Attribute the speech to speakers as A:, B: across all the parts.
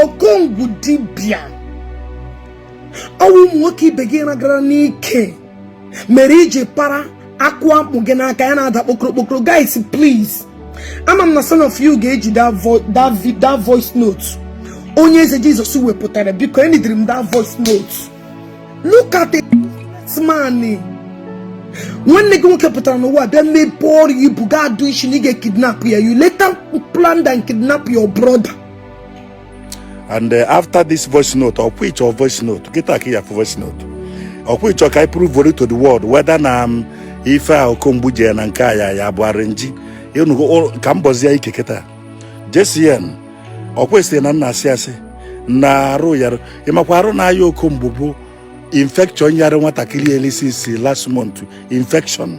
A: okongwu dibịa ọ wụ ụmụ nwoke ibe gị ị ragara n'ike mere i ji para akụ akpụ gị n'aka ya na-ada kpokoro kpokoro guys please ama m na some of you ga-eji that voice note onye eze jesus wepụtara biko enidiri m that voice note look at the man nwanne gị nwoke pụtara n'ụwa bịa mebe ọrụ ibu ga adụ isi na ị ga-ekidnap ya you later planned and kidnap your brother
B: and uh, after this voice note ọkwa ị chọ voice note kịta ka ya voice note ọkwa ị chọ ka anyị prove to the world whether na um, ife a okomgbu dibịa na nke a ya ya bụ arrangee ị nụgo ka m bọzie ya ike kịta JCN ọkwa ị sị na m na-asị asị na arụ yara ị makwa arụ na-aya okomgbu bụ infection yara nwatakịrị e lisisi last month infection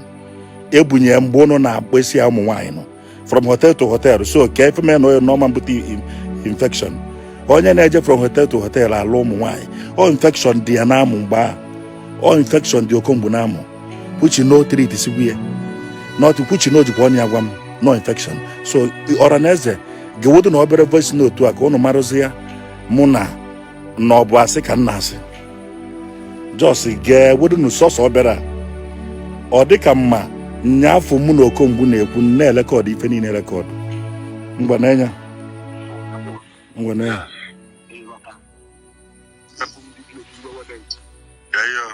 B: e bunye mgbe ụnụ na-akpesi ya ụmụ nwaanyị nọ from hotel to hotel so kee ife mee na onye na ọ ma ebute infection onye na-eje from hotel to hotel alụ ụmụ nwaanyị ọ infection dị ya n'amụ mgbe ahụ ọ infection dị okomgbu n'amụ which na ọ treatisiwe ya not which na o jikwa ọnụ ya gwa m na ọ infection so ọra na eze gewodonụ obere voice note a ka ụnụ marụzia mụ na na ọ bụ asị ka m na-asị just gewodonụ sọsọ obere a ọ dị ka mma nyaafụ mụ na okongwu na-ekwu m na-elekọdụ ife niile rekọdụ ngwa n'anya ngwa n'anya Ịghọta. Ebe ndị bi otu iwe wede ntị. Yeah, yeah.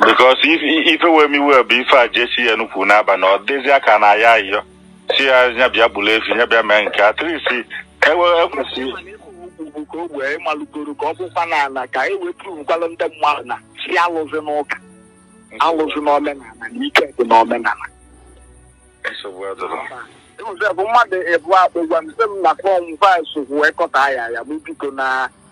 C: because ife wee m iwe bụ ife a JCN kwu n'aba na ọ dịzi ka na ya ayọsi ya nya bịa gburu efi nya bịa mee nke a at least ewe ekwesị ka o wee malụgoro ka ọ bụkwa na ala ka e wee provekwalụ ndị mmadụ na si alụzi n'ụka alụzi n'omenala na ike dị n'omenala nsogbu adịrọ Joseph mmadụ ebu akpụ gwa m sị m na form five wee kọta ya ya bụ biko na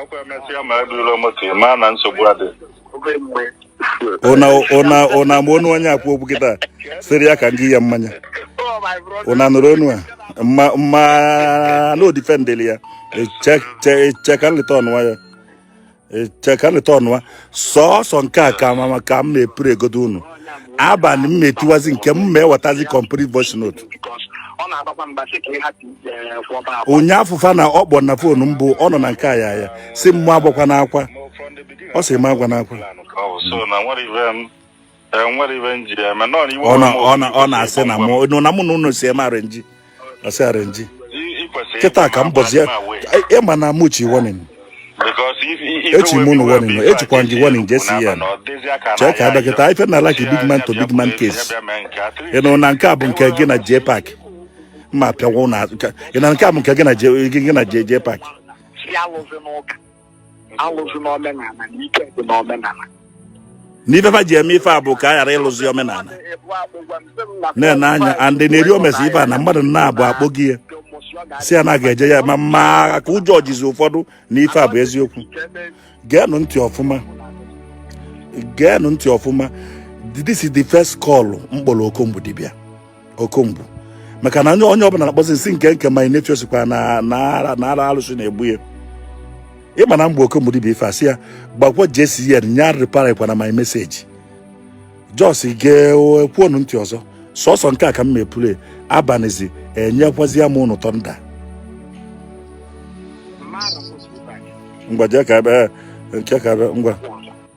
C: ọkwa emesịa ma ebulu moto ị maa na nsogbu adị ụna
B: ụna ụna ma onu onye a kwu okwu kịta sịrị ya ka ngị ya mmanya ụna nụrụ onu a mma mma na ọ defendịlị ya cheka nleta ọnụwa ya cheka nleta ọnụwa sọsọ nke a ka m ma ka m ma-eplaygodo unu abalị m ma-etiwazi nke m ma-ewetazi complete voice note ụnyaafụ fa na ọ kpọ na phone mbụ ọ nọ na nke a ya ya sị mụ agwakwana akwa ọ sị m agwana akwa ọ na-asị na mụ na mụ na unu si eme arrangee ọ sị arrangee kịta ka m bọzie ịma e, e na muchi warning echi m unu warning ejikwa gị warning jcn chee ka adọkịta ife na like big man to big man case ị nụ na nke a bụ nke gị na jpac ma pịawa ụna ị na nke a bụ nke gị na jpac alụzi n'omenala na ike dị n'omenala n'ife fa ji eme ife a bụ ka a ghara ịlụzi omenala na-ene anya and na-eri omesi ife a na mmadụ na-abụ akpọ gị ya sị ya na ga-eje ya ma ma ka ụjọ jizi ụfọdụ na ife a bụ eziokwu geenụ ntị ọfụma geenụ ntị ọfụma this is the first call m kpọrọ okomgbu dibịa okomgbu maka na onye ọbụla na-akpọzi nsị nke nke my nephew sịkwa na ara alụsị na-egbu ya ịma na mgbe okomgbu dibịa ife a sị ya gwakwa jcn nya replykwana my message just geekwuonụ ntị ọzọ sọsọ nke a ka m mepụrụ abanizi enyekwazi ya m unu thunder ngwa jee ka ebe nke ka ebe ngwa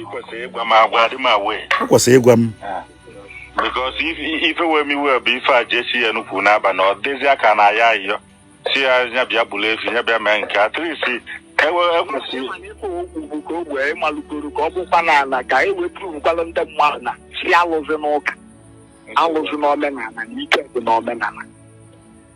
B: ị
C: kwesịrị ịgwa m agwa adị m aware o
B: kwesịrị ịgwa
C: m because ife wee m iwe bụ ife a jcn kwuru n'abalị ọ dịzi aka na ya ayọ sị ya nya bịa gburu efi nya bịa mee nke atrisi ewe ekwesịrị mana ịkpọ okwu bụ ka o wee malụgoro ka ọ bụkwa n'ala ka e wee pụrụkwalụ ndị mmadụ na-asị alụzi n'ụka alụzi n'omenala na ike dị n'omenala